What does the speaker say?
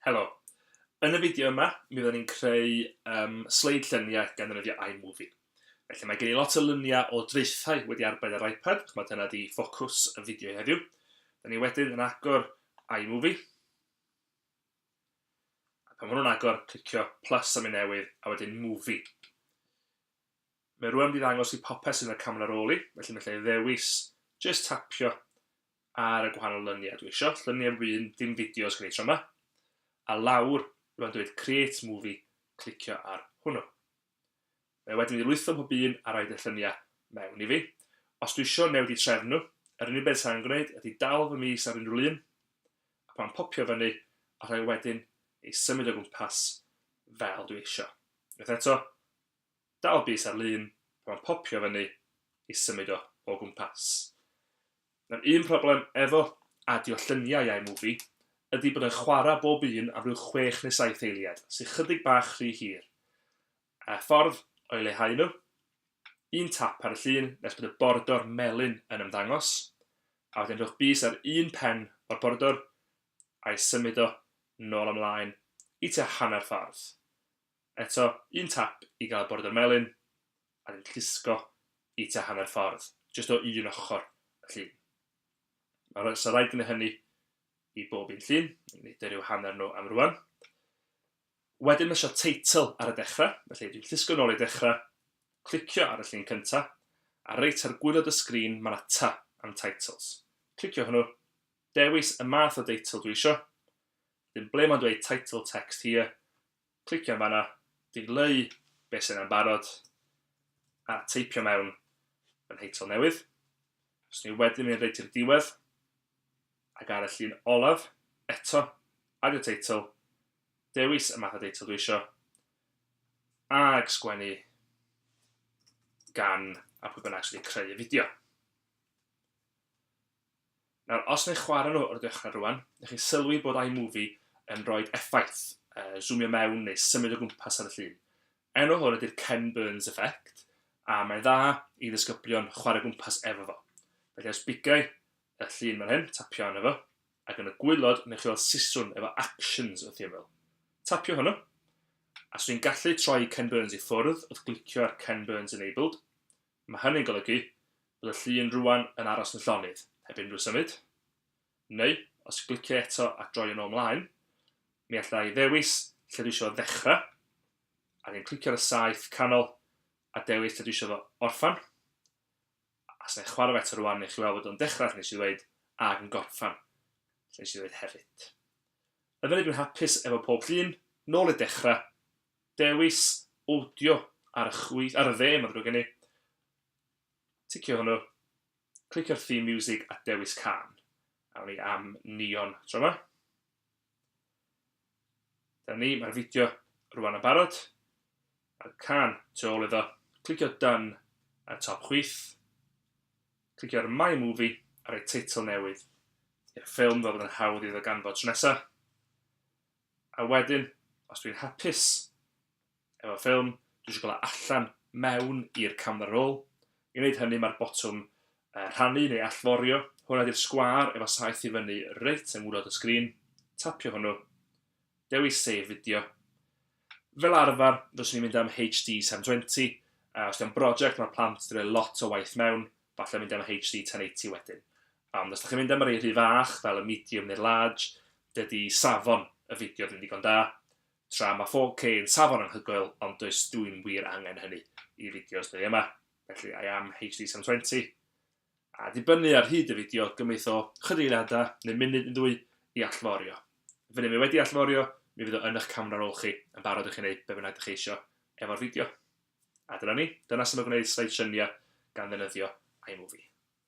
Helo. Yn y fideo yma, mi fyddwn ni'n creu um, sleid lluniau gan ddefnyddio iMovie. Felly mae gen i lot o luniau o draethau wedi arbed ar iPad, chymod dyna di ffocws y fideo heddiw. Da ni wedyn yn agor iMovie. A pan maen nhw'n agor, clicio plus am un newydd, a wedyn movie. Mae rwan wedi ddangos i popeth sydd yn y camera ar ôl i, felly mae lle ddewis, just tapio ar y gwahanol lyniau dwi eisiau, llyniau wyn, dim fideos gen i tro yma, a lawr, rwan dweud create movie, clicio ar hwnnw. Mae wedyn i lwytho pob un a roid y llynia mewn i fi. Os dwi isio newid i trefn nhw, yr unig beth sa'n gwneud ydi dal fy mis ar unrhyw lun, a pan popio fyny, a rhoi wedyn ei symud o gwmpas fel dwi isio. Unwaith eto, dal bis ar lun, pan popio fyny, ei symud o o gwmpas. Mae'r un problem efo adio lluniau i iMovie ydy bod e'n chwarae bob un am ryw chwech neu saith eiliad, sy chydig bach rhy hir. A ffordd o'i leihau nhw? Un tap ar y llun nes bod y bordor melyn yn ymddangos, a wedyn rhowch bys ar un pen o'r bordor a'i symud o nôl a mlaen i tua hanner ffordd. Eto, un tap i gael Border Melyn, a ni'n llusgo i tua hanner ffordd, jyst o un ochr y llun. Mae rha- 'sa rhaid gwneud hynny i bob un llun, nid yr yw hanner nhw am rwan. Wedyn mae eisiau teitl ar y dechrau, felly dwi'n llusgo nôl i dechrau, clicio ar y llun cyntaf, a reit ar gwylod y sgrin mae 'na ta am Titles. Clicio hwnnw, dewis y math o deitl dwi isio, wedyn ble mae'n dweud Title Text Here, clicio fan'na, dileu be' sy' 'na'n barod, a teipio mewn fy nheitl newydd. Fyswn i wedyn mynd reit i'r diwedd, ac ar y llun olaf, eto, Add your title, dewis y math o deitl dwi isio, ag sgwennu gan a pwy bynnag sydd wedi creu y fideo. Nawr, os neu chwarae nhw o'r dechrau rwan, neu chi sylwi bod iMovie yn rhoid effaith, uh, zoomio mewn neu symud o gwmpas ar y llun. Enw hwn ydy'r Ken Burns Effect, a mae'n dda i ddisgyblion chwarae gwmpas efo fo. Felly os bigau y llun fan hyn, tapio arno fo, ac yn y gwylod, neu chi weld siswrn efo actions wrth ymyl. Tapio hwnnw, a swn i'n gallu troi Ken Burns i ffwrdd wrth glicio ar Ken Burns Enabled, Mae hynny'n golygu bod y llun rŵan yn aros yn llonydd, heb unrhyw symud. Neu, os y gliciau eto a droi yn ôl 'mlaen, mi alla i ddewis lle dwi eisiau fo ddechrau, a wedyn clicio ar y saeth canol a dewis lle dwi eisiau fo orffen. A os na i chwarae fo eto rŵan, newch chi weld bod o'n dechrau lle nes i ddweud, ac yn gorffen lle nes i ddweud hefyd. Yn fyny dwi'n hapus efo pob llun, nôl i'r dechrau, dewis awdio ar y chwith, ar y dde, mae'n ddrwg gen i. Ticio hwnnw. Clicio'r theme music a dewis can. Awn ni am neon tro yma. Dyna ni, mae'r fideo rwan yn barod. A'r can tu ôl iddo. Clicio done ar y top chwith. Clicio'r my movie a rhoi teitl newydd i'r ffilm fel bod yn hawdd iddo ganfod tro nesaf. A wedyn, os dwi'n hapus efo ffilm, dwi eisiau cael o allan mewn i'r camera roll. I wneud hynny, mae'r botwm uh, rhannu neu allforio. Hwn ydy'r sgwâr efo saeth i fyny reit yng ngwylod y sgrin. Tapio hwnnw. Dewis save fideo. Fel arfer, dwi'n ni'n mynd am HD 720, a os di'n brosiect mae'r plant wedi rhoi lot o waith mewn, falle mynd am HD 1080 wedyn. Ond os dych chi'n mynd am yr un rhy fach, fel y medium neu'r large, dydy safon y fideo ddim digon da, tra mae 4K yn safon anhygoel ond does dwi'm wir angen hynny i fideos dwi yma, felly I am HD 720. A dibynnu ar hyd y fideo, gymith o chydig eiliadau neu munud neu ddwy i allforio. Funud mae wedi allforio, mi fydd o yn eich camera roll chi yn barod i chi wneud be bynnag dych chi eisiau efo'r fideo. A dyna ni, dyna sut mae gwneud slide lluniau gan ddefnyddio iMovie.